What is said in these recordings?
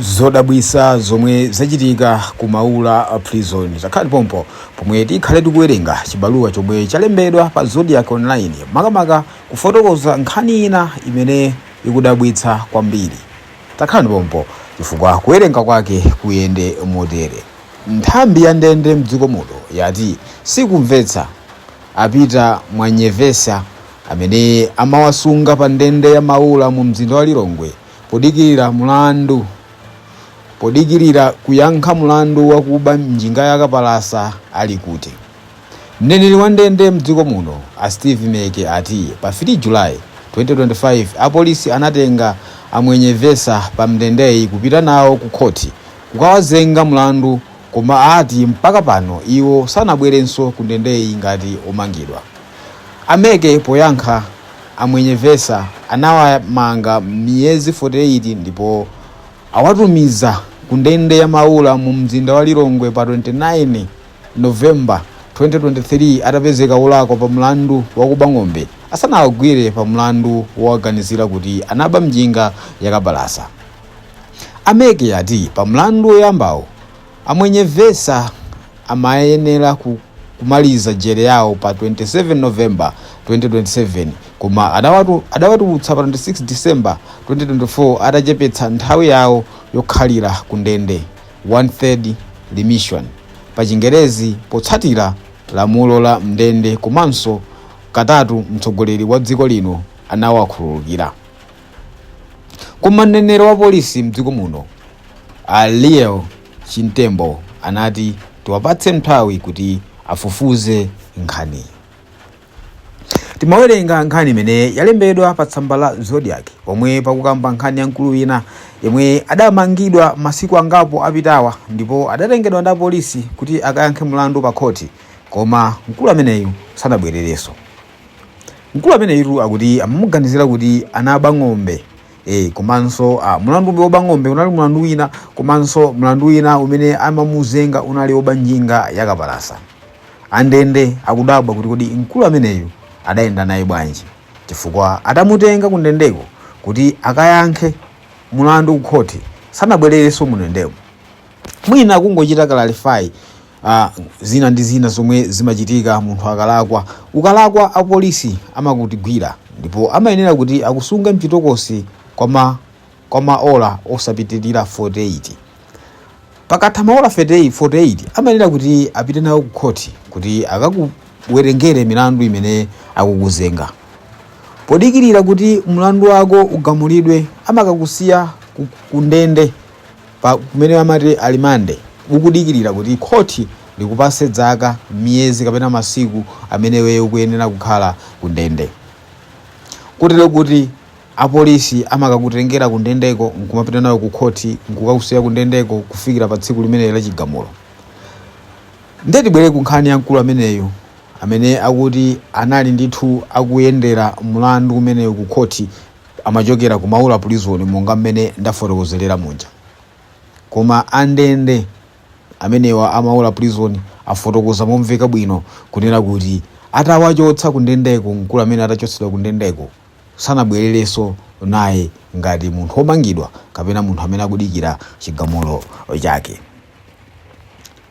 zodabwisa zomwe zachitika ku maula prison takhalani pompo pomwe tikhale tikuwerenga chibaluwa chomwe chalembedwa pa zodiac online makamaka kufotokoza nkhani ina imene ikudabwitsa kwambiri takhalani pompo chifukwa kuwerenga kwake kuyende motere nthambi ya ndende mdziko muno yati sikumvetsa a pita mwenyevesa amene amawasunga pa ndende ya maula mu mzinda wa lilongwe Podikirira mulandu. Podikirira kuyankha mulandu wakuba njinga ya kapalasa ali kuti? Mneneri wa ndende m'dziko muno a Steve Meke ati pa 3 July, 2025 apolisi anatenga a Mwenyevesa pa ndendeyi kupita nawo ku khoti kukawazenga mulandu Koma ati mpaka pano iwo sanabwerenso ku ndendeyi ngati omangidwa. A Meke poyankha a Mwenyevesa anawamanga miyezi 48 ndipo awatumiza ku ndende ya Maula mu mzinda wa Lilongwe pa 29 November 2023 atapezeka olakwa pa mlandu wakuba ng'ombe asanawagwire pa mlandu wowaganizira kuti anaba njinga yakapalasa. A Meke ati pa mlandu woyambawo, a Mwenyevesa amayenera kumaliza jere yawo pa 27 November 2027 koma adawatu, adawatulutsa pa 26 December 2024 atachepetsa nthawi yawo yokhalira ku ndende, one third remission, pa chingerezi potsatira lamulo la m'ndende komanso katatu mtsogoleri wa dziko lino anawakhululukira. Koma mneneri wa polisi mdziko muno a Lael Chimtembo anati tiwapatse nthawi kuti afufuze nkhani. Timawerenga nkhani imene yalembedwa pa tsamba la Zodiac pomwe pakukamba nkhani ya mkulu wina yemwe adamangidwa masiku angapo apitawa ndipo adatengedwa ndi apolisi kuti akayankhe mlandu pa khoti koma mkulu ameneyu sanabwererenso. Mkulu ameneyitu akuti amamuganizira kuti anaba ng'ombe eh, komanso ah, mulandu umene woba ng'ombe unali mulandu wina komanso mulandu wina umene amamuzenga unali woba njinga yakapalasa. Andende akudabwa kuti kodi mkulu ameneyu adayenda naye bwanji chifukwa atamutenga kundendeko kuti akayankhe mulandu kukhoti sanabwererenso mundendemo. Mwina kungochita clarify a Zina ndi zina zomwe zimachitika munthu akalakwa. Ukalakwa apolisi amakutigwira ndipo amayenera kuti akusunge mchitokosi kwa ma kwa maola osapitilira 48. Pakatha maola 30 48 amayenera kuti apite nawe ku khoti kuti akakuwerengere milandu imene akukuzenga. Podikilira kuti mlandu wako ugamulidwe amakakusiya ku kundende. pa kumene amati alimande ukudikilira kuti khoti likupase dzaka, miyezi kapena masiku amene iweyo ukuyenera kukhala ku ndende. Kotero kuti apolisi amakakutengera ku ndendeko nkumapita nawe ku khoti nkukakusiya ku ndendeko kufikira pa tsiku limenelo la chigamulo. Nde tibwere ku nkhani ya mkulu ameneyo amene akuti anali ndithu akuyendera mulandu umenewu ku khoti amachokera ku Maula prison monga mmene ndafotokozera muja. Koma andende amenewa a Maula prison afotokoza momveka bwino kunena kuti atawachotsa kundendeko, mkulu amene atachotsedwa kundendeko sanabwererenso naye ngati munthu womangidwa kapena munthu amene akudikira chigamulo chake.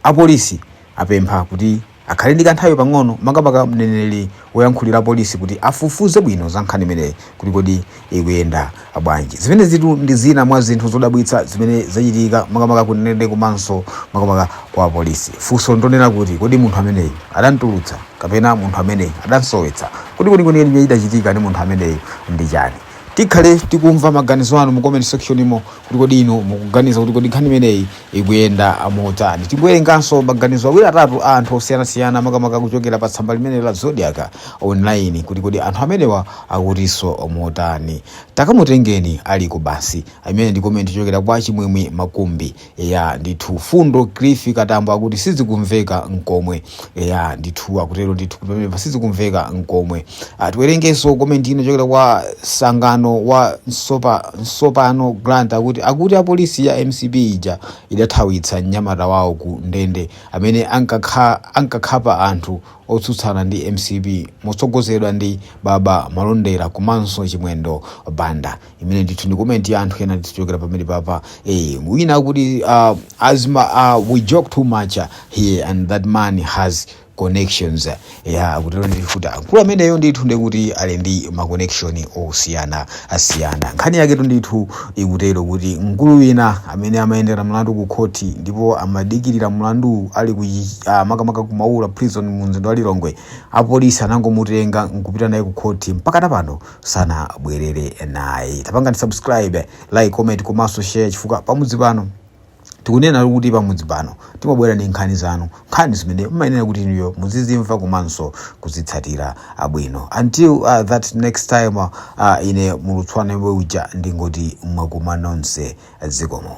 Apolisi apempha kuti akhale ndi kanthawi pang'ono makamaka mneneri woyankhulira apolisi kuti aifufuze bwino za nkhani imeneyi kuti kodi ikuyenda bwanji. Zimenezitu ndi zina mwa zinthu zodabwitsa zimene zachitika makamaka ku ndende komanso makamaka kwa apolisi. Funso ndonena kuti kodi munthu ameneyu adamtulutsa kapena munthu ameneyu adamsowetsa? Kodi kwenikweni chimene chidachitika ndi munthu ameneyu ndi chani? Tikhale tikumva maganizo anu mu comment section mo. kuti kodi inu mukuganiza kuti kodi nkhani imeneyi ikuyenda motani tingowerenganso maganizo awiri atatu a anthu osiyanasiyana makamaka kuchokera pa tsamba limene la zodiac online kuti kodi anthu amenewa akutinso motani takamutengeni ali ku basi imene ndi komenti kuchokera kwa chimwemwe makumbi ya ndithu fundo cliff katambo akuti sizikumveka nkomwe eya ndithu akutero ndithu kuti pamenepa sizikumveka nkomwe Ah, tiwerengenso komenti iyi kuchokera kwa sangano wa nsopa nsopano grant akuti akuti polisi ya mcp ija idathawitsa mnyamata wawo ku ndende amene ankakha- ankakhapa anthu otsutsana ndi mcp motsogozedwa ndi baba malondera komanso chimwendo banda imene ndithu ndi comment ya anthu ena ndithu kuchokera pamenepapa eh wina akuti uh, as Malawians, uh, we joke too much uh, here and that man has connections ya akutero ndithu kuti mkulu ameneyo ndithu ndikuti ali ndi ma connection osiyanasiyana nkhani yaketu ndithu ikutero kuti mkulu wina amene amayendera mlandu ku khoti ndipo amadikirira mlandu ali ku uh, makamaka ku maula prison mu mzinda wa Lilongwe apolisi anangomutenga nkupita naye ku khoti mpaka tapano sanabwerere naye tapangani subscribe like comment komanso share chifukwa pamudzi pano tikunena kuti pamudzi pano timabwera ndi nkhani zanu nkhani zimene mmayenera kuti inuyo muzizimva komanso kuzitsatira bwino until uh, that next time uh, ine mulutswana yomwe uja ndingoti mwakuma nonse zikomo